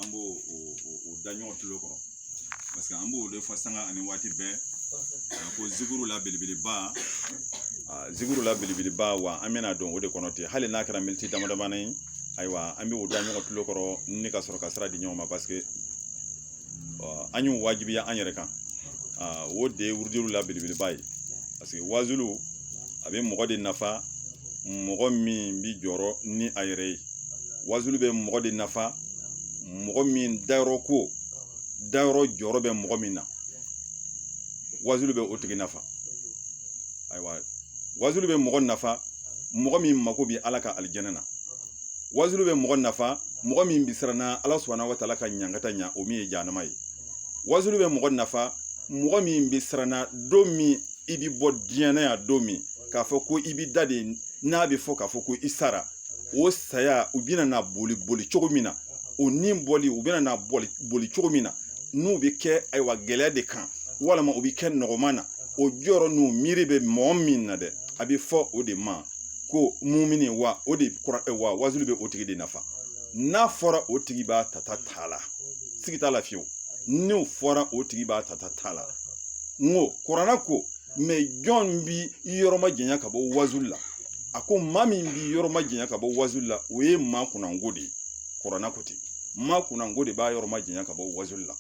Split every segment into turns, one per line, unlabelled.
an b'o o da ɲɔgɔn tulo kɔrɔ paseke an b'o de fɔ sanga ani waati bɛɛ ko zikuru la belebeleba zikuru la belebeleba wa an bɛna don o de kɔnɔ ten hali n'a kɛra miniti damadamani ye ayiwa an bɛ o da ɲɔgɔn tulo kɔrɔ ni ka sɔrɔ ka sira di ɲɔgɔn ma paseke an y'o wajibiya an yɛrɛ kan o de ye wurudiw la belebeleba ye parce que wazulu a bɛ mɔgɔ de nafa mɔgɔ min bi jɔrɔ ni a yɛrɛ ye wazulu bɛ mɔgɔ de nafa mɔgɔ min dayɔrɔ ko dayɔrɔ jɔrɔ bɛ mɔgɔ min na wazulu bɛ o tigi nafa ayiwa wazulu bɛ mɔgɔ nafa mɔgɔ min mako bɛ ala ka alijɛnɛ na wazulu bɛ mɔgɔ nafa mɔgɔ min bɛ siran na ala subahana wa taala ka ɲangata ɲa o min ye jahanama ye wazulu bɛ mɔgɔ nafa mɔgɔ min bɛ siran na don min i bɛ bɔ diɲɛ na yan don min k'a fɔ ko i bɛ da de n'a bɛ fɔ k'a fɔ ko i sara o saya u bɛna na boli boli cogo min na o ni bɔli u bɛna na boli boli cogo min na n'u bɛ kɛ ayiwa gɛlɛya de kan walima u bɛ kɛ nɔgɔman na o jɔrɔ n'o miiri bɛ mɔgɔ min na dɛ a bɛ fɔ o de ma ko mumini wa o de kura eh, wa wazulu bɛ o tigi de nafa n'a fɔra o tigi b'a tata t'a la siga t'a la fiyewu n'o fɔra o tigi b'a tata t'a la n ko kurana ko jɔn bi yɔrɔ ma janya ka bɔ wazulu la a ko maa min bi yɔrɔ ma janya ka bɔ wazulu la o ye maa kunnango de ye kurana ko ten maa kunnango de b'a yɔrɔ ma janya ka bɔ wazulu la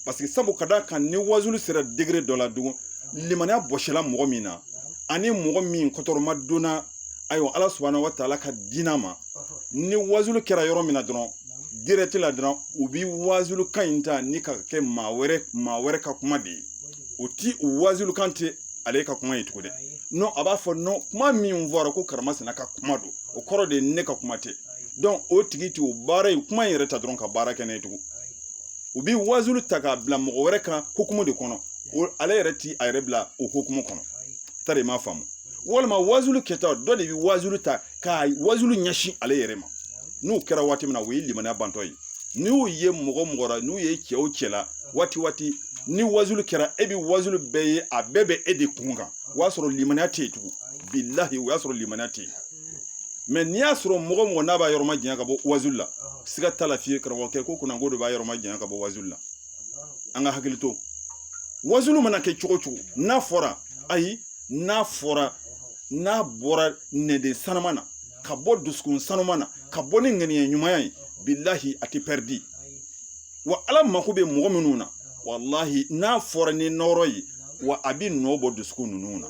paseke sabu ka d'a kan ni wazulu sera degere dɔ la dun limaniya bɔsila mɔgɔ min na ani mɔgɔ min kɔtɔrɔma donna ayiwa ala subahana wa taala ka diina ma ni wazulu kɛra yɔrɔ min na dɔrɔn dirɛti la dɔrɔn u bi wazulu kan in ta ni ka kɛ maa wɛrɛ maa wɛrɛ ka kuma de ye o ti o wazulu kan kɛ ale ka kuma ye tugun dɛ a b'a fɔ kuma min fɔra ko karamasina ka kuma don o kɔrɔ de ye ne ka kuma tɛ o tigi t'o baara in kuma in yɛrɛ ta dɔrɔn ka baara kɛ n'a ye tugun u bɛ wazulu ta k'a bila mɔgɔ wɛrɛ kan hukumu de kɔnɔ ale yɛrɛ ti a yɛrɛ bila o hukumu kɔnɔ tari m'a faamu walima wazulu kɛta dɔ de bɛ wazulu ta ka wazulu ɲɛsin ale yɛrɛ ma n'o kɛra waati min na o ye limaniya bantɔ ye n'i y'o ye mɔgɔ mɔgɔ la n'u ye cɛ o cɛ la waati waati ni wazulu kɛra e bɛ wazulu bɛɛ ye a bɛɛ bɛ e de kun kan o y'a sɔrɔ limaniya tɛ yen tugun bilahi o y'a sɔrɔ limaniya tɛ yen mɛ n'i y'a sɔrɔ mɔgɔ mɔgɔ n'a b'a yɔrɔma janya ka bɔ wazulu la siga t'a la fiye karamɔgɔkɛ ko kunnango de b'a yɔrɔma janya ka bɔ wazulu la an ka hakili to wazulu mana kɛ cogo cogo n'a fɔra ayi n'a fɔra n'a bɔra nɛden sanuma na ka bɔ dusukun sanuma na ka bɔ ni ŋaniya ɲumanya ye bilahi a tɛ pɛridi wa ala mako bɛ mɔgɔ minnu na walahi n'a fɔra ni nɔrɔ ye wa a bɛ nɔ bɔ dusukun ninnu na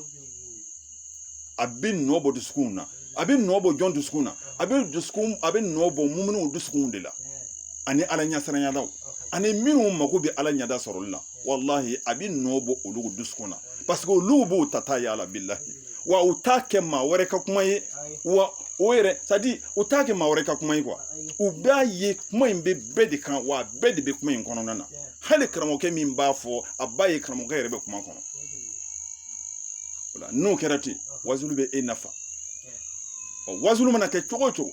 a bɛ nɔ bɔ dusukun na a bɛ nɔ bɔ jɔn dusukun na a bɛ dusukun a bɛ nɔ bɔ muminiw dusukun de la ani ala ɲɛsiranyalaw ani minnu mako bɛ ala ɲɛda sɔrɔli la walahi a bɛ nɔ bɔ olu dusukun na parce que olu b'o ta ta y'a la bilahi wa u t'a kɛ maa wɛrɛ ka kuma ye wa o yɛrɛ c'est-à-dire u t'a kɛ maa wɛrɛ ka kuma ye quoi u b'a ye kuma in bɛ bɛɛ de kan wa bɛɛ de bɛ kuma in kɔnɔna na hali karamɔgɔkɛ min b'a fɔ a b'a ye karamɔgɔkɛ yɛrɛ bɛ kuma kɔnɔ o la n'o kɛra ten wazulu bɛ e nafa ɔ wazulu mana kɛ cogo o cogo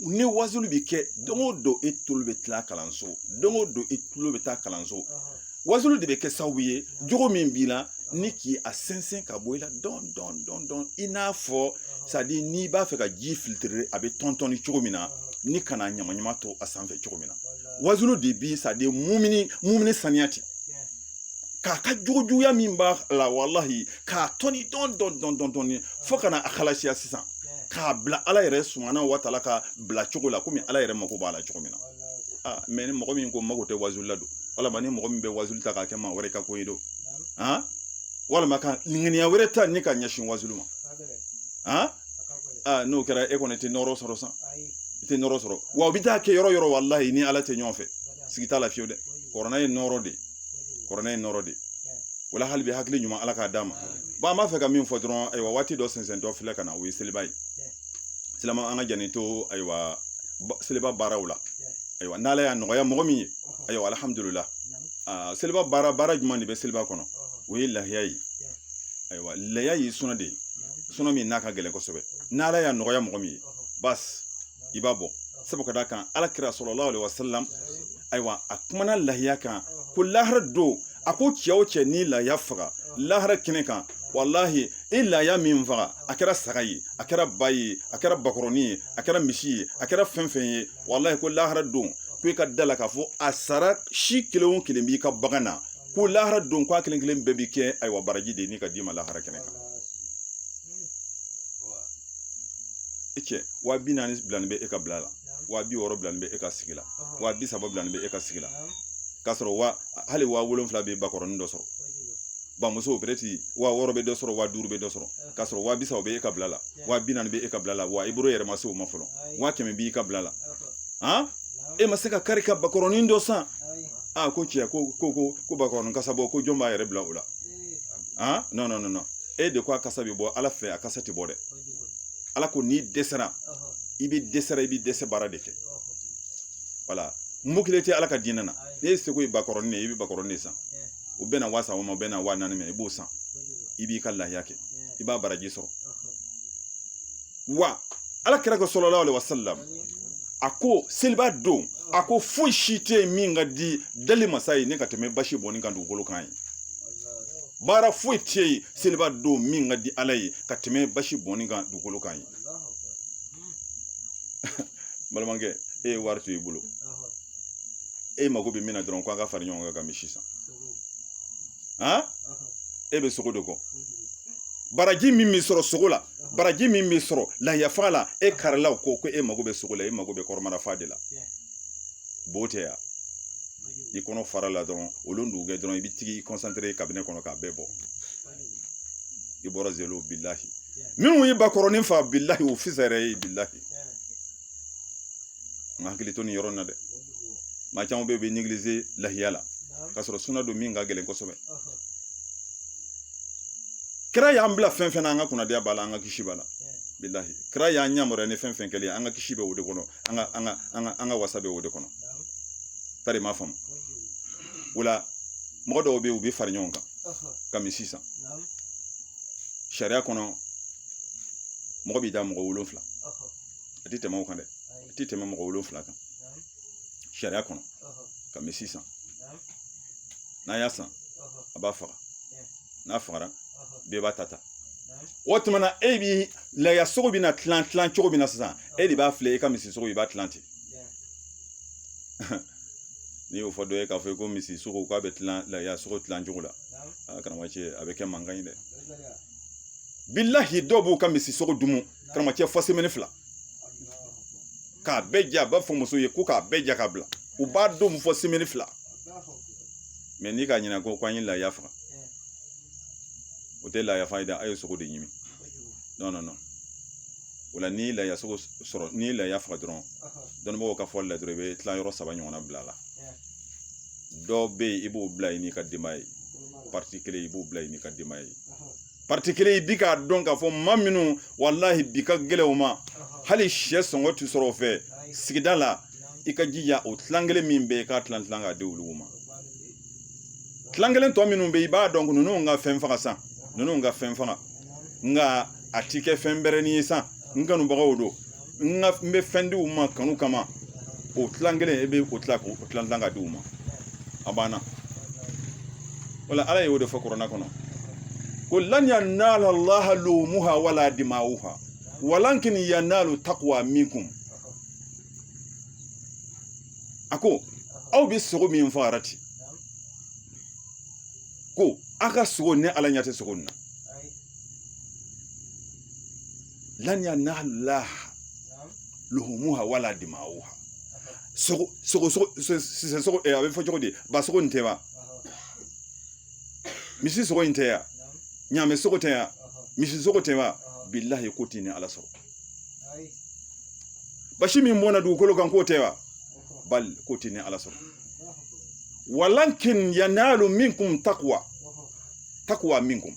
ni wazulu bɛ kɛ don o don e tulo bɛ tila kalanso don o don e tulo bɛ taa kalanso wazulu de bɛ kɛ sababu ye jogo min b'i la ni k'i a sɛnsɛn ka bɔ i la dɔɔnin dɔɔnin dɔɔnin dɔɔnin i n'a fɔ c'est-à-dire n'i b'a fɛ ka ji filtrer a bɛ tɔntɔni cogo min na ni ka na ɲamaɲama to a sanfɛ cogo min na wazulu de bi c'est-à-dire mumini mumini saniya ten k'a ka jogo juguya min b'a la walahi k'a tɔni dɔɔnin dɔɔnin dɔɔnin dɔɔnin dɔɔnin fo ka na a halasiya sisan k'a bila ala yɛrɛ subhanahu wa taala ka bila cogo la komi ala yɛrɛ mako b'a la cogo min na ah, mais ni mɔgɔ min ko mako tɛ wazulu la don walima ni mɔgɔ min bɛ wazulu ta k'a kɛ maa wɛrɛ ka ko ye don walima ka ŋaniya wɛrɛ ta ni ka ɲɛsin wazulu ma aa n'o kɛra e kɔni tɛ nɔrɔ sɔrɔ san i tɛ nɔrɔ sɔrɔ wa u bɛ taa kɛ yɔrɔ o yɔrɔ walahi i ni ala tɛ ɲɔgɔn fɛ siga t'a la fiyewu dɛ kurana ye nɔrɔ de ye kurana ye nɔrɔ de ye wala hali bi hakili ɲuman ala k'a d'an ma bon an b'a fɛ ka min fɔ dɔrɔn ayiwa waati dɔ sɛnsɛntɔ filɛ ka na o ye seliba ye silama an k'an janto ayiwa seliba baaraw la ayiwa n'ala y'a nɔgɔya mɔgɔ min ye ayiwa alihamudulila seliba baara baara jumɛn de bɛ seliba kɔnɔ o ye lahiya ye ayiwa lahiya ye suna de suna min n'a ka gɛlɛn kosɛbɛ n'ala y'a nɔgɔya mɔgɔ min ye basi i b'a bɔ sabu ka d'a kan ala kira salalahu alayihi wasalam ayiwa a kumana lahiya kan ko lahara don a ko cɛ o cɛ ni lahiya faga lahara kɛnɛ kan walahi i lahiya min faga a kɛra saga ye a kɛra ba ye a kɛra bakɔrɔni ye a kɛra misi ye a kɛra fɛn o fɛn ye walahi ko lahara don ko i ka d'a la k'a fɔ a sara si kelen o kelen b'i ka bagan na ko lahara don ko a kelen kelen bɛɛ bi kɛ ayiwa baraji de ye ni ka d'i ma lahara kɛnɛ kan e cɛ wa bi naani bilanin bɛ e ka bila la wa bi wɔɔrɔ bilanin bɛ e ka sigi la wa bi saba bilanin bɛ e ka sigi la k'a sɔrɔ wa hali wa wolonfila bɛ bakɔrɔnin dɔ sɔrɔ bamuso peut-être wa wɔɔrɔ bɛ dɔ sɔrɔ wa duuru bɛ dɔ sɔrɔ k'a sɔrɔ wa bi saba bɛ e ka bila la wa bi naani bɛ e ka bila la wa i bolo yɛrɛ ma se o ma fɔlɔ wa kɛmɛ b'i ka bila la han e ma se ka kari ka bakɔrɔnin dɔ san a ko tiɲɛ ko ko ko ko bakɔrɔnin kasa bɔ ko jɔn b'a yɛrɛ bila o la han non non non e de ko a kasa bɛ bɔ ala fɛ a kasa tɛ bɔ dɛ ala ko n'i dɛsɛra i bɛ dɛsɛra i bɛ dɛsɛ baara de kɛ wala mukile tɛ ala ka diinɛ na n'e seko ye bakɔrɔnin de ye i bɛ bakɔrɔnin de san o bɛna waa saba ma o bɛna waa naani ma i b'o san i b'i ka lahiya kɛ i b'a baraji sɔrɔ wa ala kira ko salalahu alehi wasalam a ko seliba don a ko foyi si tɛ yen min ka di dali masa ye ni ka tɛmɛ basi bɔnni kan dugukolo kan ye baara foyi tɛ yen seliba don min ka di ala ye ka tɛmɛ basi bɔnni kan dugukolo kan ye balimakɛ e ye wari to i bolo e mago bɛ min na dɔrɔn ko an ka fara ɲɔgɔn kan ka misi san han e bɛ sogo de kɔ baraji min bɛ sɔrɔ sogo la baraji min bɛ sɔrɔ lahiya faga la e karila o kɔ ko e mago bɛ sogo la e mago bɛ kɔnɔbara fa de la b'o tɛ yan ni kɔnɔ fara la dɔrɔn o don dugujɛ dɔrɔn i bɛ tag'i kɔnsantere kabinɛ kɔnɔ k'a bɛɛ bɔ i bɔra zero bilahi minnu ye bakɔrɔnin fa bilahi o fisayara e ye bilahi n hakili to nin yɔrɔ in na dɛ maa caman bɛ yen u bɛ negilize lahiya la ka sɔrɔ suna don min ka gɛlɛn kosɛbɛ kira y'an bila fɛn fɛn na an ka kunnadiya b'a la an ka kisi b'a la bilahi kira y'an yamaruya ni fɛn fɛn kɛlen an ka kisi bɛ o de kɔnɔ an ka an ka an ka an ka wasa bɛ o de kɔnɔ tari m'a faamu o la mɔgɔ dɔw bɛ yen u bɛ fara ɲɔgɔn kan ka misi san sariya kɔnɔ mɔgɔ b'i dan mɔgɔ wolonfila a tɛ tɛmɛ o kan dɛ a tɛ tɛmɛ mɔgɔ wolonfila kan sariya kɔnɔ ka misi san n'a y'a san a b'a faga n'a fagara bɛɛ b'a ta ta o tuma na e bi laya sogo bɛ na tilan tilan cogo min na sisan e de b'a filɛ e ka misi sogo i b'a tilan ten n'i y'o fɔ dɔ ye k'a fɔ ko misi sogo k'a bɛ tilan laya sogo tilan cogo la karamɔgɔcɛ a bɛ kɛ mankan ye dɛ bilahi dɔw b'u ka misi sogo dun karamɔgɔcɛ fɔ semɛni fila k'a bɛɛ ja a b'a fɔ muso ye ko k'a bɛɛ ja ka bila u b'a dun fɔ semɛni fila mɛ n'i ka ɲinɛ ko k'an ye laaya faga o tɛ laaya faga ye dɛ a ye sogo de ɲimi non non non o la n'i laaya sogo sɔrɔ n'i laaya faga dɔrɔn dɔnnibagaw ka fɔli la dɔrɔn i bɛ tilayɔrɔ saba ɲɔgɔnna bila a la dɔ bɛ yen i b'o bila i n'i ka denbaya ye pariti kelen i b'o bila i n'i ka denbaya ye kelen i bi k'a dɔn k'a fɔ maa minnu walahi bi ka gɛlɛn u ma hali sɛ sɔngɔ tɛ sɔrɔ u fɛ sigida la i ka jija o tilan kelen min bɛ yen k'a tilan tilan k'a di olu ma tilan kelen tɔ minnu bɛ yen i b'a dɔn ninnu ka fɛn faga san ninnu ka fɛn faga nka a ti kɛ fɛn bɛrɛnin ye san n kanubagaw don n ka n bɛ fɛn di u ma kanu kama o tilan kelen e bɛ o tila k'o tila tilan ka di u ma a banna wala ala y'o de fɔ kuranɛ kɔnɔ ko lan yanala laha luhumuha wala dimawuha walakin yanalu taqwa minkum a ko aw bɛ sogo min faara ten ko aw ka sogo ne ala ɲɛ tɛ sogo nin na lan yanala luhumuha wala dimauha sogo sogo sogo sisan sogo eh, a bɛ fɔ cogo di ba sogo nin tɛ wa misi sogo in tɛ ya ɲaamɛ sogo tɛ ya misi sogo tɛ wa bilahi k'o ti ne ala sɔrɔ basi min bɔnna dugukolo kan k'o tɛ wa bal k'o ti ne ala sɔrɔ walakin yanalu minkum takwa takwa minkum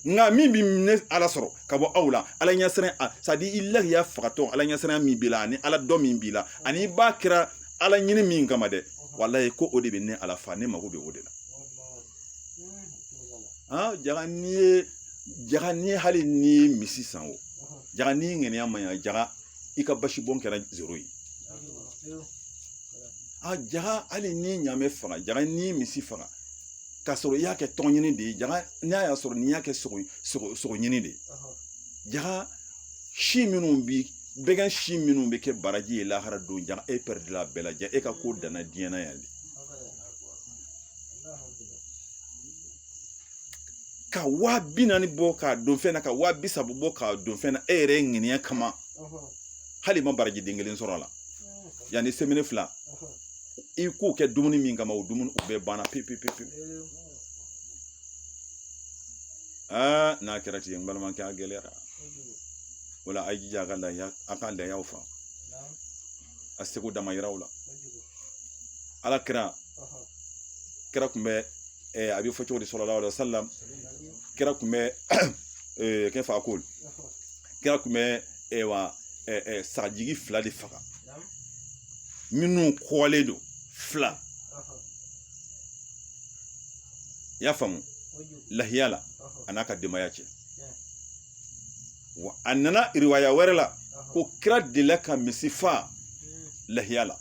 nka min bi ne ala sɔrɔ ka bɔ aw la ala ɲɛsiran a sadi i lahiya fagatɔ ala ɲɛsiran min b'i la ani ala dɔn min b'i la ani i b'a kɛra ala ɲini min kama dɛ walayi ko o de bɛ ne ala fa ne mago bɛ o de la ah jaga n'i ye jaga n'i hali n'i ye misi san o jaga n'i ŋaniya man ɲa jaga i ka basi bɔn kɛra zero ye a jaga hali n'i ɲamɛ faga jaga n'i misi faga k'a sɔrɔ i y'a kɛ tɔgɔ ɲini de ye jaa n'a y'a sɔrɔ n'i y'a kɛ sogo sogo sogo ɲini de ye jaa si minnu bi bagan si minnu bɛ kɛ baraji ye lahara don jaa e pɛrɛdila a bɛɛ la jaa e ka ko danna diɲɛ na yan de ka waa bi naani bɔ k'a don fɛn na ka waa bi saba bɔ k'a don fɛn na e yɛrɛ ŋaniya kama hal'i ma baraji den kelen sɔrɔ a la yanni semɛni fila i k'o kɛ dumuni min kama o dumuni o bɛɛ banna pewu pewu pewu aa n'a kɛra ten n balimakɛ a gɛlɛyara o la a y'i jija a ka lahiya a ka lahiyaw fa a seko damayira la ala kira kira kun bɛ a bɛ fɔ cogo di salalahu alayhi wasalam kira kun bɛ kɛ fa ko kira kun bɛ wa sagajigi fila de faga minnu kɔgɔlen don fila i y'a faamu lahiya la a n'a ka denbaya cɛ wa a nana riwaya wɛrɛ la ko kira delila ka misi fa lahiya la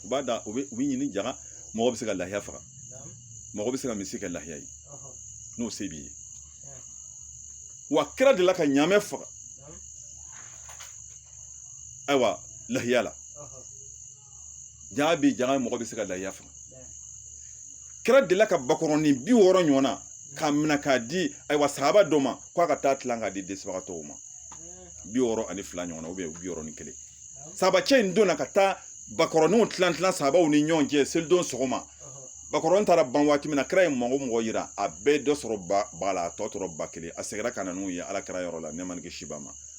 u b'a da u bɛ u bɛ ɲini jaga mɔgɔ bɛ se ka lahiya faga mɔgɔ bɛ se ka misi kɛ lahiya ye n'o se b'i ye wa kira delila ka ɲaamɛ faga ayiwa lahiya la jaa bi jaa mɔgɔ bɛ se ka lahiya faga kira delila ka bakɔrɔnin bi wɔɔrɔ ɲɔgɔn na k'a minɛ k'a di ayiwa sahaba dɔ ma k'a ka taa tilan k'a di dɛsɛbagatɔw ma bi wɔɔrɔ ani fila ɲɔgɔn na bi wɔɔrɔ ni kelen sahabacɛ in donna ka taa bakɔrɔninw tilan tilan sahabaw ni ɲɔgɔn cɛ selidon sɔgɔma bakɔrɔnin taara ban waati min na kira ye mɔgɔ mɔgɔ yira a bɛɛ dɔ sɔrɔ ba la a tɔ tora ba kelen a seginna ka na n'u ye ala kira yɔrɔ la ne man kisi ba ma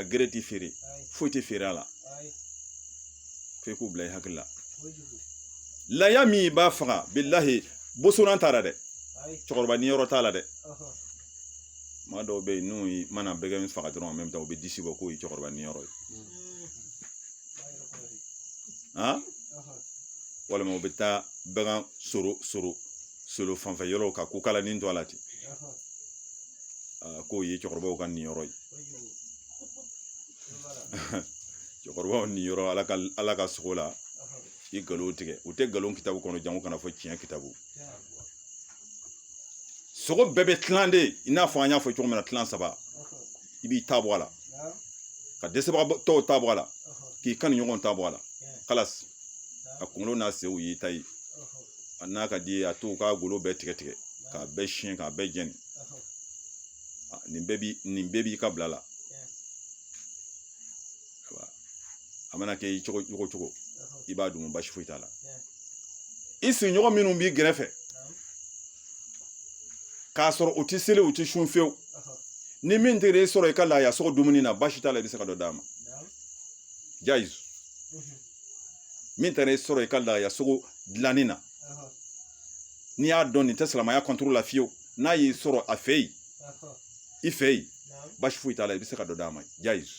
a gere ti feere foyi tɛ feere a la f'e k'o bila i hakili la laya min baa faga bilahi bosonan t'a la dɛ cɛkɔrɔba niyɔrɔ t'a la dɛ maa dɔw bɛ yen n'u mana bagan min faga dɔrɔn en même temps u bɛ disi bɔ k'o ye cɛkɔrɔba niyɔrɔ ye walima u bɛ taa bagan soro soro solo fanfɛ yɔrɔw ka kukalanin to a la ten k'o ye cɛkɔrɔbaw ka niyɔrɔ ye cɛkɔrɔbaw niyɔrɔ ala ka ala ka sogo la i nkalon tigɛ o tɛ nkalon kitabu kɔnɔ jango ka n'a fɔ tiɲɛ kitabu sogo bɛɛ bɛ tilan de i n'a fɔ an y'a fɔ cogo min na tilan saba i b'i ta bɔ a la ka dɛsɛbagatɔw ta bɔ a la k'i kanuɲɔgɔn ta bɔ a la khalas a kunkolo n'a sew y'i ta ye a n'a ka di a to u k'a golo bɛɛ tigɛ tigɛ k'a bɛɛ siɲɛ k'a bɛɛ jɛni nin bɛɛ bi nin bɛɛ b'i ka bila la a mana kɛ i cogo cogo cogo i b'a dun basi foyi t'a la i sigiɲɔgɔn minnu b'i gɛrɛfɛ k'a sɔrɔ u ti seli u ti sun fiyewu ni min taara e sɔrɔ i ka laaya sogo dumuni na basi t'a la i bɛ se ka dɔ d'a ma jayiz min taara e sɔrɔ i ka laaya sogo tilanni na n'i y'a dɔn nin tɛ silamɛya kɔntoro la fiyewu n'a y'i sɔrɔ a fɛ yen i fɛ yen basi foyi t'a la i bɛ se ka dɔ d'a ma jayiz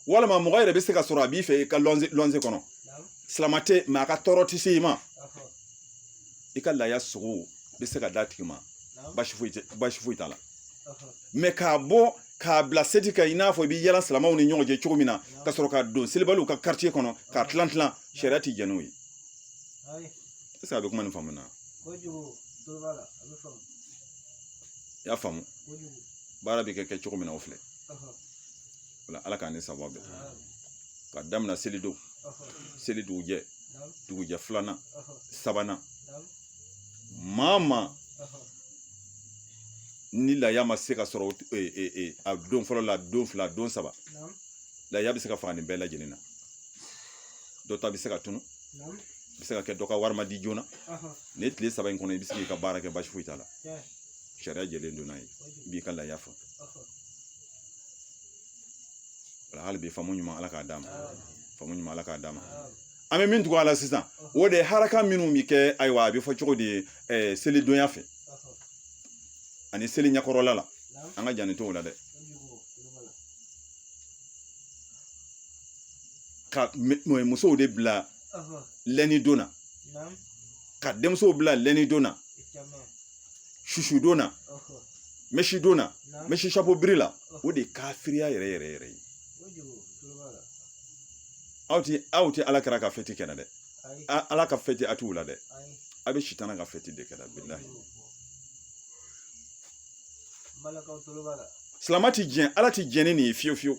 walima mɔgɔ yɛrɛ bɛ se ka sɔrɔ a b'i fɛ i ka lɔnze lɔnze kɔnɔ silama tɛ mɛ a ka tɔɔrɔ tɛ se i ma i ka laaya sogo bɛ se ka d'a tigi ma basi foyi basi foyi t'a la mɛ k'a bɔ k'a bila seti kan i n'a fɔ i bɛ yala silamaw ni ɲɔgɔn cɛ cogo min na ka sɔrɔ ka don selibaliw ka quartier kɔnɔ k'a tilan tilan sariya tɛ jɛn n'o ye est ce que a bɛ kuma nin faamu na i y'a faamu baara bɛ kɛ kɛ cogo min na o filɛ wala ala k'an ni sawaba bɛn ka daminɛ selidon seli dugujɛ dugujɛ filanan sabanan maa maa ni laya ma se ka sɔrɔ e, e, e, a don fɔlɔ la don fila don saba laya bɛ se ka faga nin bɛɛ lajɛlen na dɔ ta bɛ se ka tunun bɛ se ka kɛ dɔ ka wari ma di joona nin tile saba in kɔnɔ i bɛ se k'i ka baara kɛ basi foyi t'a la sariya jɛlen don n'a ye i b'i ka laaya faa wala hali bi faamu ɲuman ala k'a d'an ma faamu ɲuman ala k'a d'an ma an bɛ min tugu a la sisan o de ye haraka minnu bɛ kɛ ayiwa a bɛ fɔ cogo di selidonya fɛ ani seli ɲɛkɔrɔla la an ka jɛnni t'o la dɛ ka musow de bila lɛnidon na ka denmusow bila lɛnidon na susudon na mɛsidon na mɛsisapo biri la o de ye kafiriya yɛrɛ yɛrɛ yɛrɛ ye aw ti aw ti ala kira ka fɛti kɛnɛ dɛ ala ka fɛti a t'o la dɛ a bɛ sitana ka fɛti de kɛra bilahi silama ti diɲɛ ala ti diɲɛ ni nin ye fiyewu fiyewu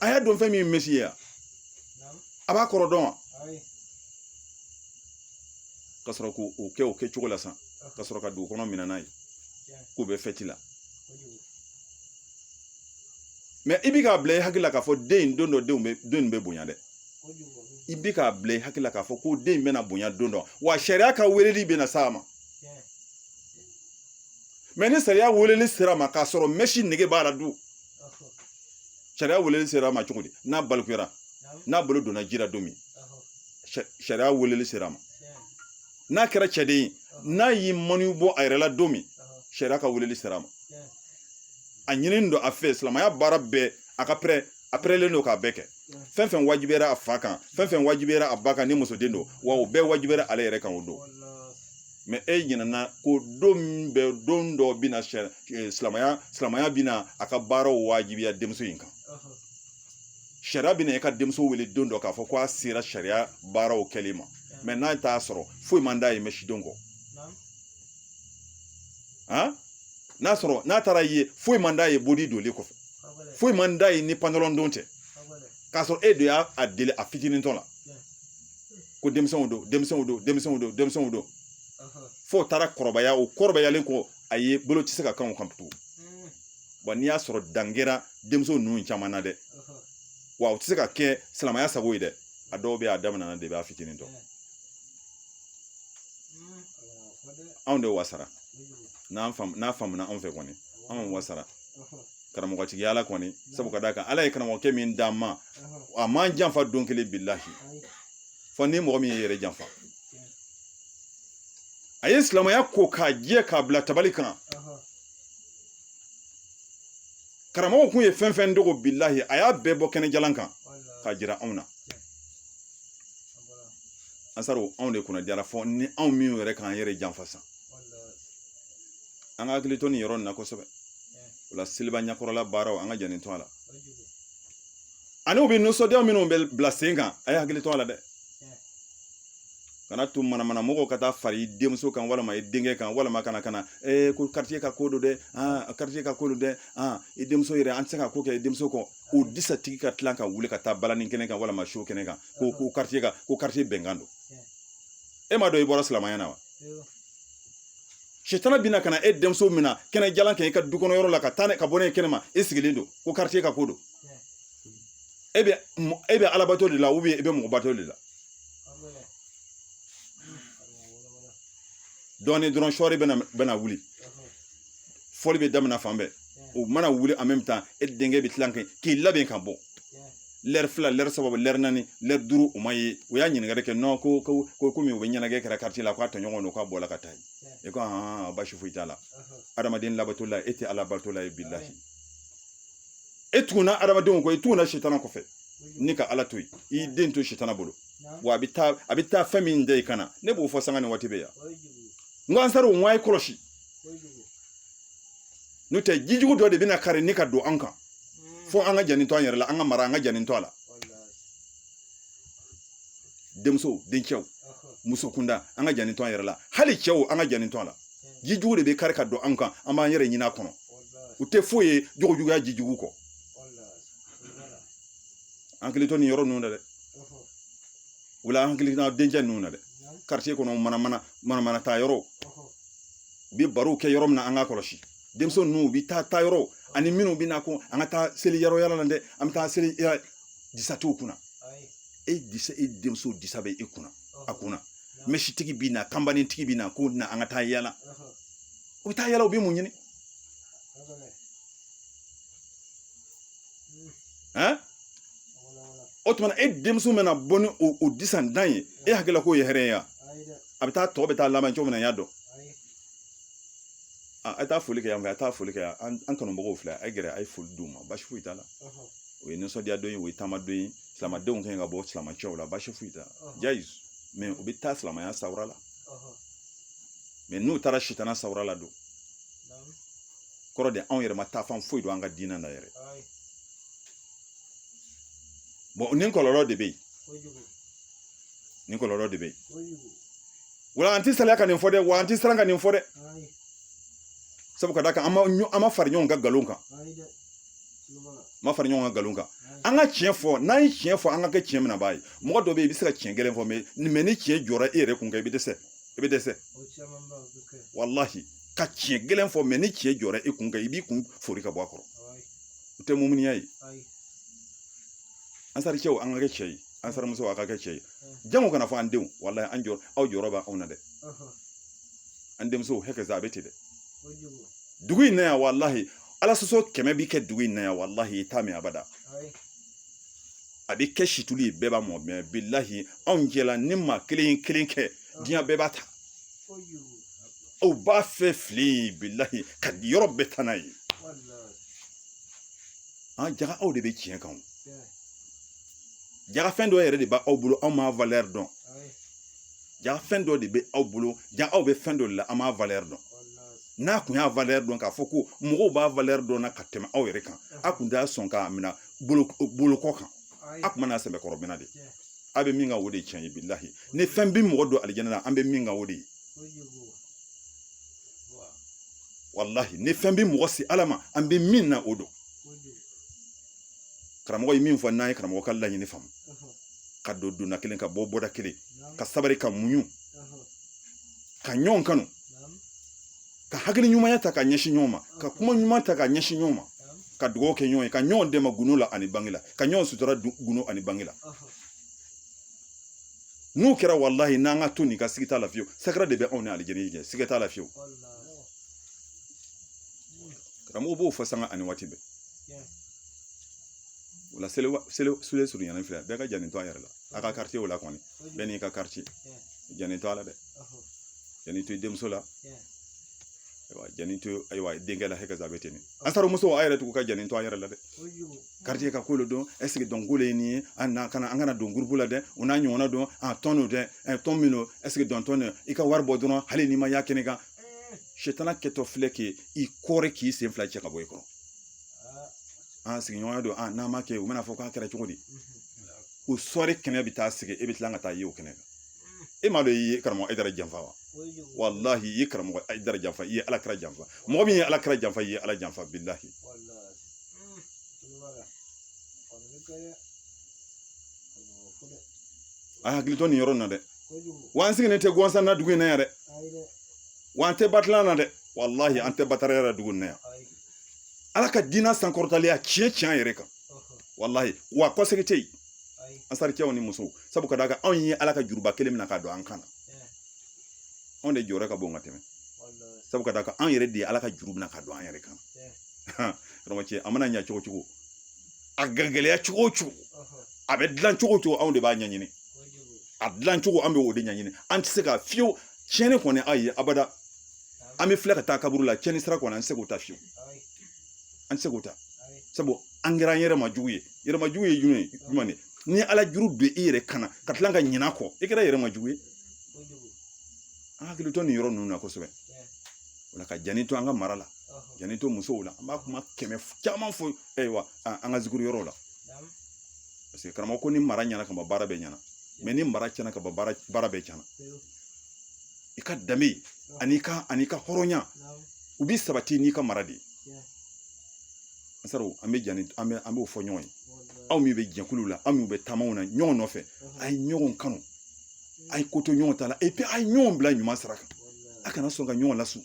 a y'a dɔn fɛn min ye mɛsi ye yan a b'a kɔrɔ dɔn wa ka sɔrɔ k'o o kɛ o kɛcogo la san ka sɔrɔ ka dugu kɔnɔ minɛ n'a ye k'o bɛ fɛti la mɛ i bi k'a bila i hakili la k'a fɔ den in don dɔ denw bɛ den in bɛ bonya dɛ i bi k'a bila i hakili la k'a fɔ ko den in bɛna bonya don dɔ wa sariya ka weleli bɛna s'a ma mɛ ni sariya weleli sera ma k'a sɔrɔ mɛsi nege b'a la dun sariya weleli sera a ma cogo di n'a balikuyara n'a bolo donna ji la don min sariya weleli sera a ma n'a kɛra cɛden ye n'a y'i maniyu bɔ a yɛrɛ la don min sariya ka weleli sera a ma a ɲininen don a fɛ silamɛya baara bɛɛ a ka pɛrɛ a pɛrɛlen don k'a bɛɛ kɛ fɛn fɛn wajibiyara a fa kan fɛn fɛn wajibiyara a ba kan ni musoden don wa o bɛɛ wajibiyara ale yɛrɛ kan o don mɛ e ɲinɛna ko don min bɛ don dɔ bɛ na silamɛya silamɛya bɛna a ka baaraw wajibiya denmuso in kan sariya bɛna e ka denmuso wele don dɔ k'a fɔ ko a sera sariya baaraw kɛli ma mɛ n'a t'a sɔrɔ foyi man d'a ye mɛsidon kɔ han n'a sɔrɔ n'a taar'a ye foyi man d'a ye bodi donli kɔfɛ foyi man d'a ye ni pantalon don tɛ k'a sɔrɔ e de y'a deli a fitinintɔ la ko denmisɛnw don denmisɛnw don denmisɛnw don denmisɛnw don fo taara kɔrɔbaya o kɔrɔbayalen kɔ a ye bolo tɛ se ka kan o kan tugun wa n'i y'a sɔrɔ dan kɛra denmisɛnw ninnu caman na dɛ wa u tɛ se ka kɛ silamɛya sago ye dɛ a dɔw bɛ a daminɛna de b'a fitinintɔ anw de wasara n'a faamuna anw fɛ kɔni anw wasara karamɔgɔtigiya la kɔni sabu ka d'a kan ala ye karamɔgɔkɛ min d'an ma a m'an janfa don kelen bilahi fɔ ni mɔgɔ min y'i yɛrɛ janfa a ye silamɛya ko k'a jɛ k'a bila tabali kan karamɔgɔ kun ye fɛn fɛn dogo bilahi a y'a bɛɛ bɔ kɛnɛjalan kan k'a jira anw na ansaru anw de kunna jara fɔ ni anw min yɛrɛ k'an yɛrɛ janfa san an ka hakili to nin yɔrɔ in na kosɛbɛ o la seliba ɲɛkɔrɔla baaraw an ka janni to a la ani bi nisɔndiya minnu bɛ bila sen kan a ye hakili to a la dɛ kana to manamana mɔgɔw ka taa fara i denmuso kan walima i denkɛ kan walima kana kana ee ko karitiye ka ko don dɛ aa karitiye ka ko don dɛ aa i denmuso yɛrɛ an tɛ se ka ko kɛ i denmuso kɔ o disatigi ka tila ka wuli ka taa balani kɛnɛ kan walima show kɛnɛ kan ko ko karitiye ka ko karitiye bɛnkan don e m'a dɔn i bɔra silamɛya na wa sitana bina ka na e denmuso mina kɛnɛjalan kan i ka du kɔnɔ yɔrɔ la ka taa ne ka bɔ ne kɛnɛ ma e sigilen don ko karitiye ka ko don e bɛ e bɛ alabato de la ou bien e bɛ mɔgɔbato de la dɔɔnin dɔrɔn sɔɔri bɛna bɛna wuli fɔli bɛ daminɛ fan bɛɛ o mana wuli en même temps e denkɛ bɛ tila k'i labɛn ka bɔ lɛri fila lɛri saba lɛri naani lɛri duuru o ma ye u y'a ɲininkali kɛ non ko ko komi u bɛ ɲɛnajɛ kɛra karitiye la k'a tɔɲɔgɔn don k'a bɔra ka taa yen e ko hɔn basi foyi t'a la adamaden labato la e tɛ ala bato la ye bilahi e tugunna adamadenw kɔ i tugunna sitana kɔfɛ n'i ka ala to yen i den to sitana bolo wa a bɛ taa a bɛ taa fɛn min da i kan na ne b'o fɔ sanga ni waati bɛ yan n ko ansaru n ko a ye kɔlɔsi n'o tɛ jijugu dɔ de bɛna kari ni ka don an kan hmm. fo an ka janni to an yɛrɛ la an ka mara an ka janni to a la denmuso dencɛw muso kunda an ka janni to an yɛrɛ la hali cɛw an ka janni to a la hmm. jijugu de bɛ kari ka don an kan an b'an yɛrɛ ɲini a kɔnɔ o tɛ foyi ye jogojuguya jijugu kɔ an hakili to nin yɔrɔ ninnu na dɛ o la an hakili to dencɛ ninnu na dɛ quartier kɔnɔ mana mana mana mana taa yɔrɔ u bɛ barow kɛ yɔrɔ min na an ka kɔlɔsi denmuso ninnu u bɛ taa taa yɔrɔ ani minnu bɛ na ko an ka taa seli yɔrɔ yala la dɛ an bɛ taa seli disa t'u kunna e disa e denmuso disa bɛ e kunna a kunna mɛsitigi bɛ na kanbanitigi bɛ na ko na an ka taa yala u bɛ taa yala u bɛ mun ɲini han o tuma e denmuso mana bɔ ni o disantan ye e hakilila k'o ye hɛrɛ ye wa a bɛ taa tɔ bɛ taa laban cogo min na n y'a dɔn a ye taa foli kɛ yan fɛ a ye taa foli kɛ yan an kanubagaw filɛ a ye gɛrɛ a ye foli d'u ma basi foyi t'a la o ye nisɔndiya don ye o ye taama don ye silamɛdenw kan ka bɔ silamɛ cogo la basi foyi t'a la jayizi mɛ u bɛ taa silamɛya sawura la mɛ n'u taara sitana sawura la don kɔrɔ de anw yɛrɛ ma taa fan foyi dɔn an ka diinɛ na yɛrɛ bon nin kɔlɔlɔ de bɛ yen nin kɔlɔlɔ de bɛ yen wala an tɛ salaya ka nin fɔ dɛ wa an tɛ siran ka nin fɔ dɛ sabu ka d'a kan an ma fara ɲɔgɔn kan nkalon kan an ma fara ɲɔgɔn kan nkalon kan an ka tiɲɛ fɔ n'an ye tiɲɛ fɔ an ka kɛ tiɲɛ minɛbaa ye mɔgɔ dɔ bɛ yen i bɛ se ka tiɲɛ gɛlɛn fɔ mɛ ni tiɲɛ jɔra e yɛrɛ kun kan i bɛ dɛsɛ i bɛ dɛsɛ walahi ka tiɲɛ gɛlɛn fɔ mɛ ni tiɲɛ jɔra e kun kan i b'i kun fori ka bɔ a kɔrɔ o tɛ muminiya ye ansari cɛw an ka kɛ cɛ ye ansari musow a ka kɛ cɛ ye jango kana fɔ an denw walahi an jɔ aw jɔrɔ bɛ anw na dɛ an denmusow hakɛ a bɛ ten dɛ dugu in na yan walahi ala sɔsɔ kɛmɛ bi kɛ dugu in na yan walahi i t'a mɛn abada a bɛ kɛ situlu ye bɛɛ b'a mɔ mɛ bilahi anw cɛla ni maa kelen kelen kɛ diɲɛ bɛɛ b'a ta u b'a fɛ fili bilahi ka yɔrɔ bɛɛ taa n'a ye an jaga aw de bɛ tiɲɛ kan jaga fɛn dɔ yɛrɛ de bɛ aw bolo aw m'a valɛri dɔn jaga fɛn dɔ de bɛ aw bolo jaga aw bɛ fɛn dɔ de la aw m'a valɛri dɔn n'a kun y'a valɛri dɔn k'a fɔ ko mɔgɔw b'a valɛri dɔn na ka tɛmɛ aw yɛrɛ kan a kun tɛ sɔn k'a minɛ bolokɔ kan a kun bɛn'a sɛbɛkɔrɔ minɛ dɛ a bɛ min kan o de tiɲɛ ye bilahi ni fɛn bɛ mɔgɔ don alijana na an bɛ min kan o de ye walahi ni fɛn bɛ mɔgɔ se ala ma an bɛ min na o don karamɔgɔ ye min fɔ n'an ye karamɔgɔ ka laɲini faamu ka don donda kelen ka bɔ bɔda kelen ka sabari ka muɲu ka ɲɔgɔn kanu ka hakili ɲumanya ta ka ɲɛsin ɲɔgɔn ma ka kuma ɲuman ta ka ɲɛsin ɲɔgɔn ma ka dugawu kɛ ɲɔgɔn ye ka ɲɔgɔn dɛmɛ gundo la ani bange la ka ɲɔgɔn sutura gundo ani bange la n'o kɛra walahi n'an ka to nin kan siga t'a la fiyewu sakara de bɛ anw ni alijinɛ cɛ siga t'a la fiyewu karamɔgɔ b'o fɔ sanga ani waati bɛɛ o la seli seli seli surunyana filɛ bɛɛ ka janni to a yɛrɛ la a ka karitiyew la kɔni bɛɛ n'i ka karitiye janni to a la dɛ janni to i denmuso la ayiwa janni to ayiwa denkɛ la hɛkɛ a bɛ ten ansari muso a yɛrɛ tugu ka janni to a yɛrɛ la dɛ karitiye ka ko de don ɛseke dɔnko de ye nin ye an na kana an kana don gurupu la dɛ o n'a ɲɔgɔnna dɔn a tɔn don dɛ ɛ tɔn min don ɛseke dɔntɔn don i ka wari bɔ dɔrɔn hali n'i ma y'a kɛnɛ kan setana kɛtɔ filɛ k'i kɔɔri k'i sen fila cɛ ka bɔ i kɔrɔ an sigiɲɔgɔnya don a n'an m'a kɛ u bɛna fɔ k'a kɛra cogo di o suware kɛnɛ bɛ taa sigi e bɛ tila ka taa ye o kɛnɛ kan e m'a dɔn i ye karamɔgɔ ayidara janfa wa walahi i ye karamɔgɔ ayidara janfa i ye ala kira janfa mɔgɔ min ye ala kira janfa i ye ala janfa bilahi a hakili to nin yɔrɔ in na dɛ wa an sigilen tɛ gansan na dugu in na yan dɛ wa an tɛ batilan na dɛ walahi an tɛ bataraya la dugu in na yan ala ka diina sankɔrɔtaliya tiɲɛ tiɲɛ an yɛrɛ kan walahi wa kɔsegi tɛ yen ansari kɛw ni musow sabu ka da kan anw ye ala ka juruba kelen mina ka don an kan na anw de jɔyɔrɔ ka bon ka tɛmɛ sabu ka da kan anw yɛrɛ de ye ala ka juru mina ka don an yɛrɛ kan karamɔgɔ ci a mana ɲɛ cogo cogo a gɛlɛya cogo o cogo a bɛ dilan cogo o cogo anw de b'a ɲɛɲini a dilan cogo an bɛ o de ɲɛɲini an tɛ se ka fiyewu tiɲɛni kɔni ayi abada an bɛ filɛ ka taa kaburu la tiɲɛni sira kɔni an tɛ se k'o ta fiyewu an tɛ se k'o ta sabu an kɛra an yɛrɛ ma jugu ye yɛrɛ ma jugu ye jumɛn ye jumɛn de ni ala juru don i yɛrɛ kan na ka tila ka ɲin'a kɔ i kɛra yɛrɛ ma jugu ye an hakili to nin yɔrɔ ninnu na kosɛbɛ o la ka janto an ka mara la janto musow la an b'a kuma kɛmɛ caman fɔ ayiwa an ka zikiri yɔrɔ la paseke karamɔgɔ ko ni mara ɲɛna ka ban baara bɛɛ ɲɛna mɛ ni mara tiɲɛna ka ban baara baara bɛɛ tiɲɛna i ka danbe ani ka ani ka hɔrɔnya u bi sabati n'i ka mara de ye ansariw an bɛ jani an bɛ an b'o fɔ ɲɔgɔn ye aw min bɛ jɛkulu la aw min bɛ taamaw na ɲɔgɔn nɔfɛ a ye ɲɔgɔn kanu a ye ko to ɲɔgɔn ta la epi a ye ɲɔgɔn bila ɲuman sira kan a kana sɔn ka ɲɔgɔn lasun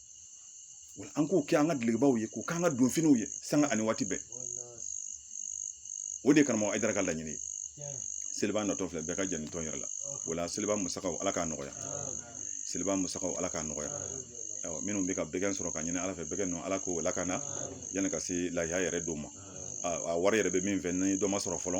wa an k'o kɛ an ka dulokibaw ye k'o k'an ka donfiniw ye sanga ani waati bɛɛ o de ye karamɔgɔ ayidara ka laɲini ye seliba natɔ filɛ bɛɛ ka janto yɛrɛ la o la seliba musakaw ala k'a nɔgɔya seliba musakaw ala k'a nɔgɔya minnu bɛ ka bɛgɛn sɔrɔ ka ɲini ala fɛ bɛgɛn ninnu ala k'o lakana yanni ka se lahiya yɛrɛ don ma a wari yɛrɛ bɛ min fɛ ni dɔ ma sɔrɔ fɔlɔ